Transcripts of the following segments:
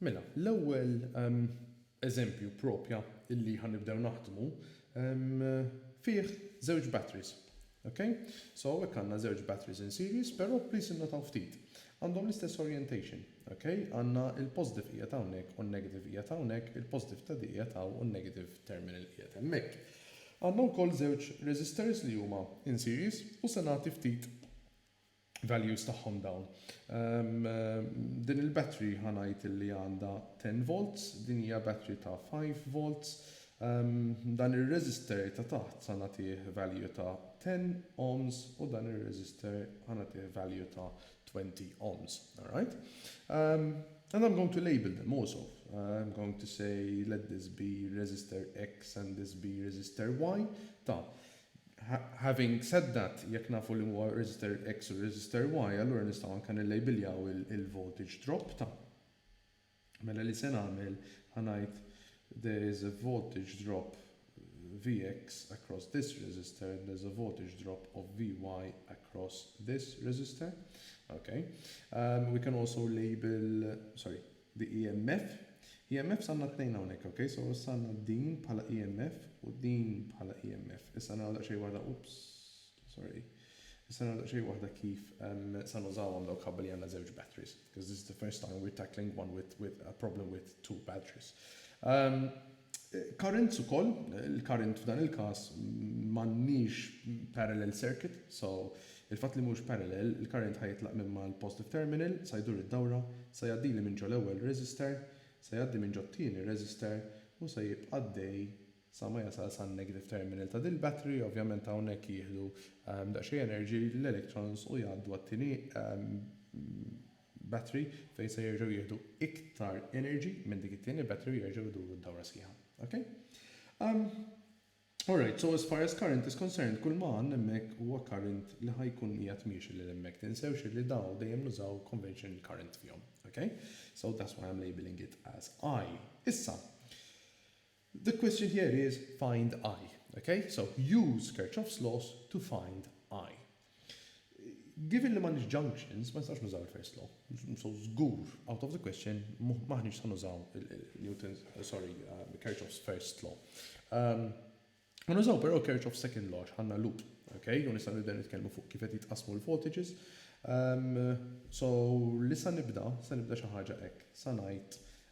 Mela, l-ewwel eżempju propja li ħa nibdew naħdmu fih żewġ batteries. Ok? So hawnhekk għandna żewġ batteries in series, però please innotaw ftit. Għandhom l-istess orientation. Ok? Għandna l-positive qiegħed hawnhekk u n-negative qiegħed hawnhekk, il-positive ta' di qiegħed hawn u n-negative terminal qiegħed hemmhekk. Għandna wkoll żewġ resistors li huma in series u se nagħti ftit values tagħhom dawn. Din il-battery ħa ngħid illi għandha 10 volts, din hija battery ta' 5 volts. Dan ir-resistor ta' taħt sa nagħtih value ta' 10 ohms u dan ir-resistor ħa nagħtih value ta' 20 ohms. Alright? And I'm going to label them also. I'm going to say let this be resistor X and this be resistor Y. Ta, Having said that, jekk nafu liema huwa resistor X u resistor Y, allura nistgħu anke nillejbiljaw il-voltage drop ta'. Mela li se nagħmel, ħa ngħid there is a voltage drop Vx across this resistor and there is a voltage drop of Vy across this resistor. Okay. Um, we can also label, sorry, bi EMF. EMFs għandna tnejn hawnhekk, ok? So issa għandna din bħala EMF u din bħala EMF. Issa naraw daqsxejn waħda, oops, sorry. Issa naraw daqsxejn waħda kif se nużawhom dawk ħabba li għandna żewġ batteries, because this is the first time we're tackling one with, with a problem with two batteries. Currents ukoll, il-current f'dan il-każ m'għandniex parallel circuit, so il-fatt li mhux parallel, il-current ħa jitlaq minn mal-positive terminal, sa jdur id-dawra, sa jgħaddili minn ġo l-ewwel resistor, sa jgħaddi minn ġot-tieni resistor u sa jibqa' għaddej sa ma jasal san-negative terminal ta' dil-battery, ovvjament hawnhekk jieħdu daqsxejn energy l-electrons u jgħaddu għat-tieni battery fejn se jerġgħu jieħdu iktar energy minn dik it-tieni battery u jerġgħu jduru d-dawra sħiħa. Ok? Um, Alright, so as far as current is concerned, kull ma għandna hemmhekk huwa current li ħajkun qiegħed miexi lil hemmhekk. Tinsewx li daw dejjem nużaw conventional current fihom. Ok? So that's why I'm labeling it as I. Issa, The question here is find I. Ok? So, use Kirchhoff's laws to find I. Given li m'għandniex junctions, ma nistgħux nużaw il-first law. So, żgur, out of the question, m'aħniex se nużaw Newton's, sorry, uh, Kirchhoff's first law. Um, ma nużaw però Kirchhoff's second law għandna loop. Ok? U nistgħu nibdew nitkellmu fuq kif qed jitqasmu l-voltages. Um, so, li sa nibda, sa nibda xi ħaġa hekk. Sa ngħid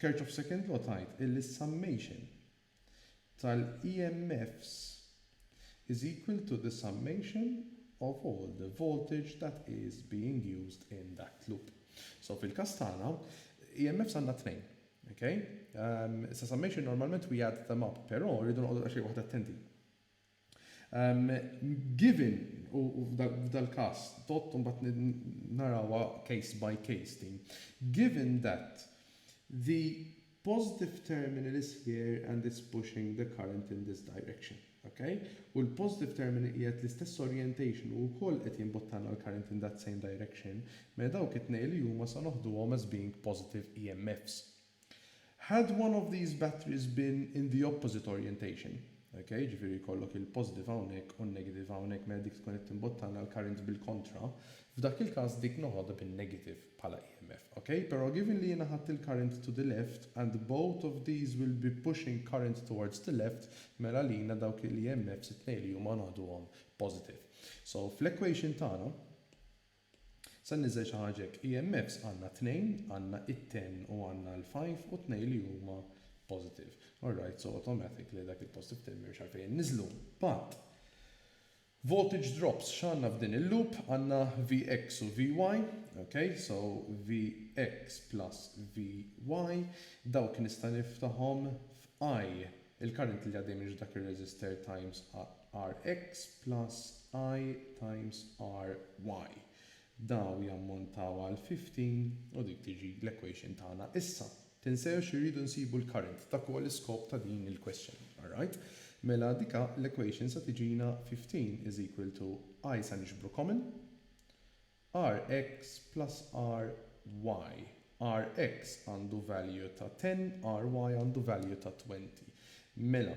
Church of Second Law tgħid illi s-summation tal-EMFs is equal to the summation of all the voltage that is being used in that loop. So fil-każ tagħna, EMFs għandna tnejn. Ok? Issa summation normalment we add them up, però rridu noqogħdu daqsxejn waħda attenti. Given, u f'dal-każ, todd imbagħad narawha case by case din, given that the positive terminal is here and it's pushing the current in this direction, ok, u l-positive terminal qiegħed l-istess orientation u wkoll qed jimbottana l-current in that same direction, mela dawk it-tnejn li huma sa noħduhom as being positive EMFs. Had one of these batteries been in the opposite orientation, ok, jiġifieri jkollok il-positive hawnhekk u n-negative hawnhekk mela dik tkun qed timbottana l-current bil-kontra, f'dak il-każ dik noħodha bin-negative bħala EMF, ok. Però given li jiena ħadt il-current to the left and both of these will be pushing current towards the left, mela għalina dawk il-EMFs it-tnejn li huma noħduhom positive. So fl-equation tagħna, Se nniżżel xi ħaġa hekk. EMFs għandna tnejn, għandna it-ten u għandna l-five u tnejn li huma positive. All right, so automatic li dak il-positive ten m'hemmx għalfejn inniżżlu. But, voltage drops x'għandna f'din il-loop? Għandna Vx u Vy, ok, so Vx plus Vy, dawk nista' niftahom f'I, il-current li għaddej minn ġo dak ir-resistor times RX plus I times RY. Daw jammontaw għal 15 u dik tiġi l-equation tagħna. Issa, tinsewx irridu nsibu l-current, dak huwa l-iskop ta' din il-question. Alright? Mela dika l-equation se tiġina 15 is equal to I se niġbru common, RX plus RY. RX għandu value ta' 10, RY għandu value ta' 20. Mela,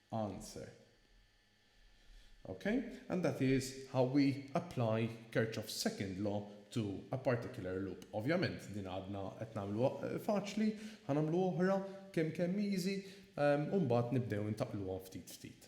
answer ok and that is how we apply Kirchhoff's second law to a particular loop. Ovvjament din għadna qed nagħmluha faċli, ħa nagħmlu oħra kemm kemm easy u mbagħad nibdew intaqluhom ftit ftit.